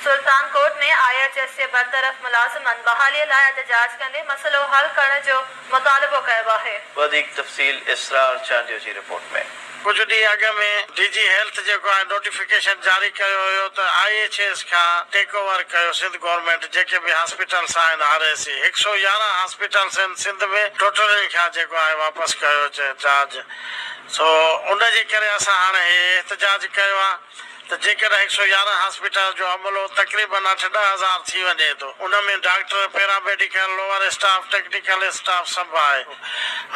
Sultan Kot ۾ I H S جي برطرف ملازمن بحالي لاء احتجاج ڪندي مسئلو حل ڪرڻ جو مطالبو ڪيو آهي. وڌيڪ تفصيل اسرار چانڊيو جي رپورٽ ۾. ڪجهه ڏينهن اڳ ۾ ڊي جي هيلٿ جيڪو آهي نوٽيفڪيشن جاري ڪيو هيو ته آء ايڇ ايس کان ٽيڪ اوور ڪيو سنڌ گورنمينٽ جيڪي به هاسپيٽلس آهن آر اي سي هڪ سؤ يارهن هاسپيٽلس هن سنڌ ۾ ٽوٽلين کان جيڪو آهي واپس ڪيو چارج سو ان جي ڪري اسان هاڻي هي احتجاج ڪيو آ. ته جيڪڏهن هڪ سؤ يارهن هاسپيٽل جو عملو تقريبن اٺ ڏهه هزار ٿي وڃي ٿو ان ۾ doctor, paramedical, lower staff, technical staff سڀ آهي.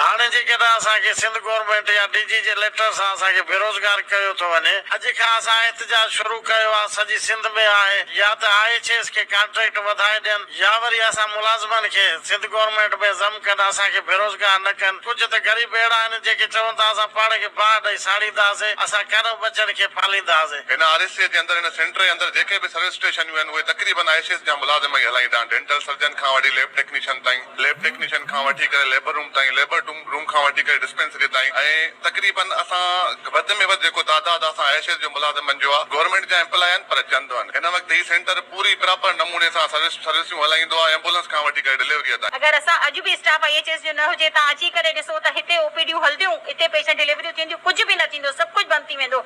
هاڻي جيڪڏهن اسان کي سنڌ گورنمينٽ يا ڊي جي جي ليٽر سان اسان کي بيروزگار ڪيو ٿو وڃي. اڄ کان اسان احتجاج شروع ڪيو آهي سڄي سنڌ ۾ آهي يا ته آء ايڇ ايس کي ڪانٽريڪٽ وڌائي ڏين يا وري اسان ملازمن کي سنڌ گورنمينٽ ۾ ضم ڪن اسان کي بيروزگار نه ڪن ڪجهه ته غريب اهڙا آهن جيڪي چون ٿا اسان پاڻ کي باهه ڏئي ساڙينداسين اسان ڪانه ٻچن کي پالينداسين. هن آر اي سي جي اندر هن سينٽر جي اندر جيڪي به سروس اسٽيشنيون آهن اهي تقريبن آء سي ايس جا ملازم ئي هلائيندا آهن ڊينٽل سرجن کان وٺي ليب ٽيڪنيشن تائين ليب ٽيڪنيشن کان وٺي ڪري ليبر روم تائين ليبر روم کان وٺي ڪري ڊسپينسري تائين ۽ تقريباً اسان وڌ ۾ وڌ جيڪو تعداد اسان ايشيز جو ملازمن جو آ گورنمينٽ جا ايمپلاء آهن پر چند آهن هن وقت هي سينٽر پوري پراپر نموني سان سروس سروسيون هلائيندو آ ايمبولنس کان وٺي ڪري ڊليوريء تائين. اگر اسان اڄ به اسٽاف آئي ايڇ ايس جو نه هجي تان اچي ڪري ڏسو ته هتي او پي ڊيون هلنديون هتي پيشنٽ ڊليوريون ٿينديون ڪجهه به نه ٿيندو سڀ ڪجهه بند ٿي ويندو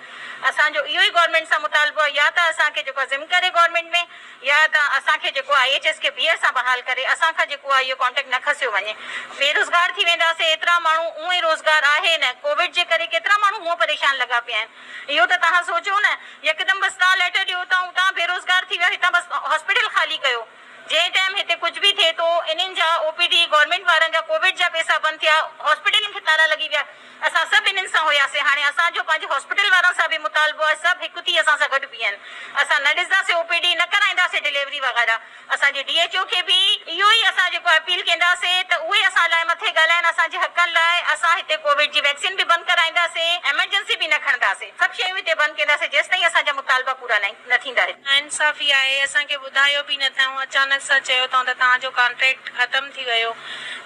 اسان جو اهو ئي گورنمينٽ سان مطالبو آ يا ته اسان کي جيڪو آ زم ڪري گورنمينٽ ۾ يا ته اسان کي جيڪو آء ايڇ ايس کي ٻيهر سان بحال ڪري اسان کان جيڪو آ اهو ڪانٽيڪٽ نه کسيو وڃي بيروزگار ٿي وينداسين ايترا ماڻهو اونئي روزگار آهي نه ڪووڊ جي ڪري ڪيترا ماڻهو هونئن پريشان لڳا پيا آهن اهو ته توهان سوچو نه يڪدم بس توهان ليٽر ڏيو اتان اتان بيروزگار ٿي ويا هتان بس هاسپيٽل خالي ڪيو جنهن ٽائيم هتي ڪجهه به ٿئي ٿو انهن جا او پي ڊي گورنمينٽ وارن جا ڪووڊ جا پيسا بند ٿيا هاسپيٽلن کي تالا لڳي ويا. اسان سڀ انهن سان هياسين. هاڻي اسان جو پنهنجي هاسپيٽل وارن سان به مطالبو آهي سڀ هڪ ٿي اسان سان گڏ بيهن. اسان نه ڏسنداسين او پي ڊي، نه ڪرائينداسين ڊليوري وغيره. اسان جي ڊي ايڇ او کي به اهو ئي اسان جيڪو اپيل ڪينداسين ته اهي اسان لاء مٿي ڳالهائين اسان جي حقن لاء. اسان هتي ڪووڊ جي ويڪسين به بند ڪرائينداسين، ايمرجنسي به نه کڻنداسين. سڀ شيون هتي بند ڪينداسين جيستائين اسان جا مطالبا پورا نه ٿيندا هتي. ناانصافي آهي، اسان کي ٻڌايو به نه ٿيون، اچانڪ سان چيو ٿئون ته توهان جو ڪانٽريڪٽ ختم ٿي ويو،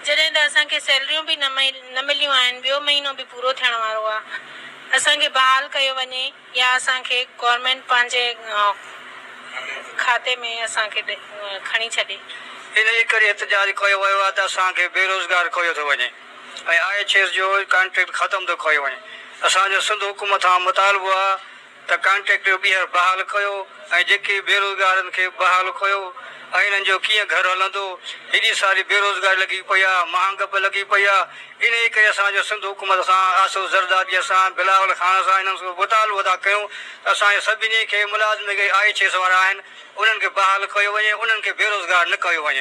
جڏهن ته اسان کي سيلريون به نه نه مليون آهن، ٻيو مهينو به پورو ٿيڻ وارو آ، اسان کي بحال ڪيو وڃي يا اسان کي گورنمينٽ پنهنجي کاتي ۾ اسان کي کڻي ڇڏي. ان جي ڪري احتجاج ڪيو ويو آ ته اسان کي بيروزگار ڪيو ٿو وڃي ۽ آء ايڇ ايس جو ڪانٽريڪٽ ختم ٿو ڪيو وڃي، اسان جو سنڌ حڪومت کان مطالبو آ ته ڪانٽريڪٽر ٻيهر بحال ڪيو ۽ جيڪي بيروزگارن کي بحال ڪيو ۽ انهن جو ڪيئن گهر هلندو هيڏي ساري بيروزگاري لڳي پئي آ مهانگ به لڳي پئي آ انهي ڪري اسان جو سنڌ حڪومت سان آصف زرداري سان بلاول خان سان انهن سو مطالبو ادا ڪيون ته اسان جي سڀني کي ملازم جيڪي آئي ايڇ ايس وارا آهن انهن کي بحال ڪيو وڃي انهن کي بيروزگار نه ڪيو وڃي.